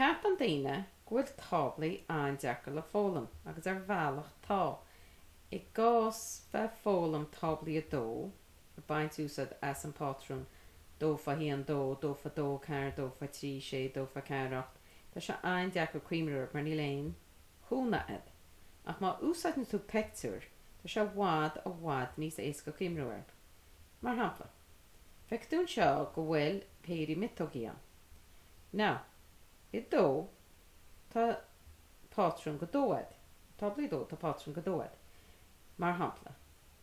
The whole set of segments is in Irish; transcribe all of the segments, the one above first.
Ceapann daoine go bhfuil táblaí an-deacair le foghlaim agus ar bhealach tá. I gcás bheith foghlaim táblaí 2, ag baint úsáid as an bpátrún dó fá haon dó, dó fá dó ceathair, dó fá trí sé, dó fá ceathair ocht, tá sé an-deacair cuimhniú air mar níl aon chúnamh agat. Ach má úsáideann tú peictiúir tá sé i bhfad, i bhfad níos éasca cuimhniú air. Mar shampla. Feicfidh tú anseo go bhfuil péirí miotógaí ann. Now, i dó tá pátrún go deo agat, táblaí 2, tá pátrún go deo agat. Mar shampla,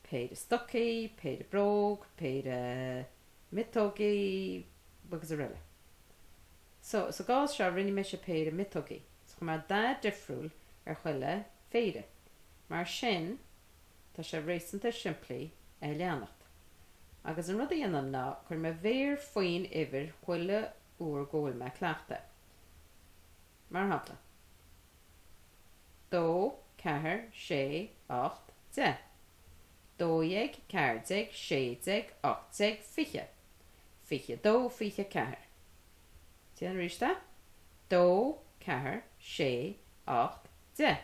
péire stocaí, péire bróg, péire miotógaí agus araile. So, sa gcás seo rinne mise péire miotógaí. So, chuir mé dath difriúil ar chuile phéire. Mar sin. Tá sé réasúnta simplí é a leanacht. Agus an rud a dhéanaim ná cuir mo mhéar faoi'n uimhir chuile uair go bhfuil mé ag cleachtadh. Mar shampla. Dó, ceathair, sé, ocht, deich. Dó dhéag, ceathair déag, sé déag, ocht déag, fiche. Fiche dó, fiche ceathair. Déan arís é. Dó, ceathair, sé, ocht, deich.